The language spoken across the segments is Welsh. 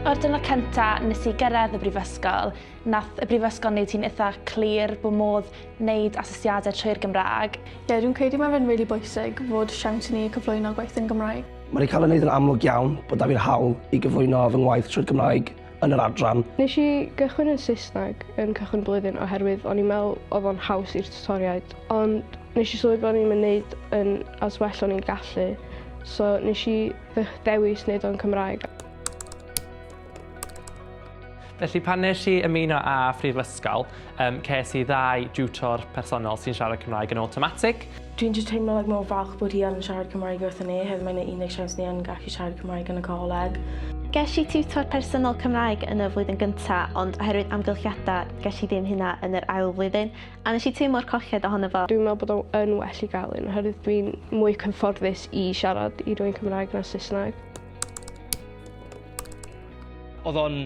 O'r diwrnod cynta nes i gyrraedd y brifysgol, nath y brifysgol wneud hi'n eitha clir bod modd wneud asesiadau trwy'r Gymraeg. Ie, dwi'n credu mae fe'n rili bwysig fod siawns i ni cyflwyno gwaith yn Gymraeg. Mae rhaid cael ei wneud yn amlwg iawn bod 'da fi'r hawl i gyflwyno fy ngwaith trwy'r Gymraeg. yn yr adran. Nes i gychwyn yn Saesneg yn cychwyn y blwyddyn oherwydd o'n i'n meddwl oedd o'n haws i'r tiwtoriaid ond nes i sylwi bod o'n i'm yn neud yn as well o'n i'n gallu so nes i ddewis neud o'n Cymraeg. Felly pan nes i ymuno â Phrifysgol, um, ces i ddau diwtor personol sy'n siarad Cymraeg yn awtomatig. Dwi'n jyst teimlo like mor falch bod hi yn siarad Cymraeg wrthyn ni oherwydd mae'n ei unig siawns ni yn gallu siarad Cymraeg yn y coleg. Ges i tiwtor personol Cymraeg yn y flwyddyn gynta, ond oherwydd amgylchiadau, ges i ddim hynna yn yr ail flwyddyn, a nes i teimlo'r colled ohono fo. Dwi'n meddwl bod o yn well i gael un, oherwydd dwi'n mwy cyfforddus i siarad i rwy'n Cymraeg na Saesneg. Oedd o'n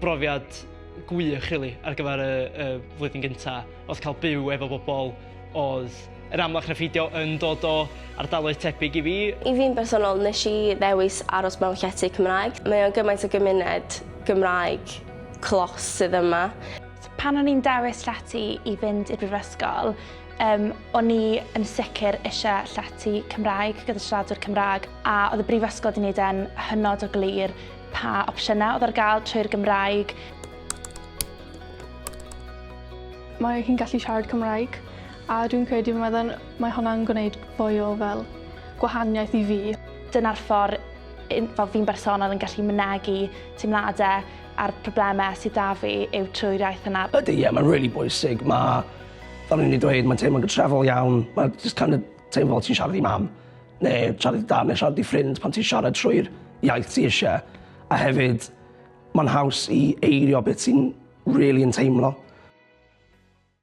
brofiad gwych, rili, ar gyfer y, y flwyddyn gynta. Oedd cael byw efo bobl Oedd yr amlach na pheidio yn dod o ardaloedd tebyg i fi. I fi'n bersonol, nes i ddewis aros mewn llety Cymraeg. Mae o'n gymaint o gymuned Gymraeg clos sydd yma. Pan o'n i'n dewis llety i fynd i'r brifysgol, um, o'n i yn sicr eisiau llety Cymraeg gyda siaradwyr Cymraeg a oedd y brifysgol wedi gwneud e'n hynod o glir pa opsiynau oedd ar gael trwy'r Gymraeg. Mae hi'n gallu siarad Cymraeg a dwi'n credu mae fe'n mae hwnna'n gwneud fwy o fel gwahaniaeth i fi. Dyna'r ffordd un- fel fi'n bersonol yn gallu mynegi teimladau a'r problemau sydd 'da fi yw trwy'r iaith yna. Ydy ie mae'n rili bwysig ma' fel o'n i 'di dweud mae'n teimlo'n gytrefol iawn ma' jyst kind of teimlo fel ti'n siarad i mam neu siarad i dad neu siarad i ffrind pan ti'n siarad trwy'r iaith ti isie a hefyd Mae'n haws i eirio beth ti'n rili yn teimlo.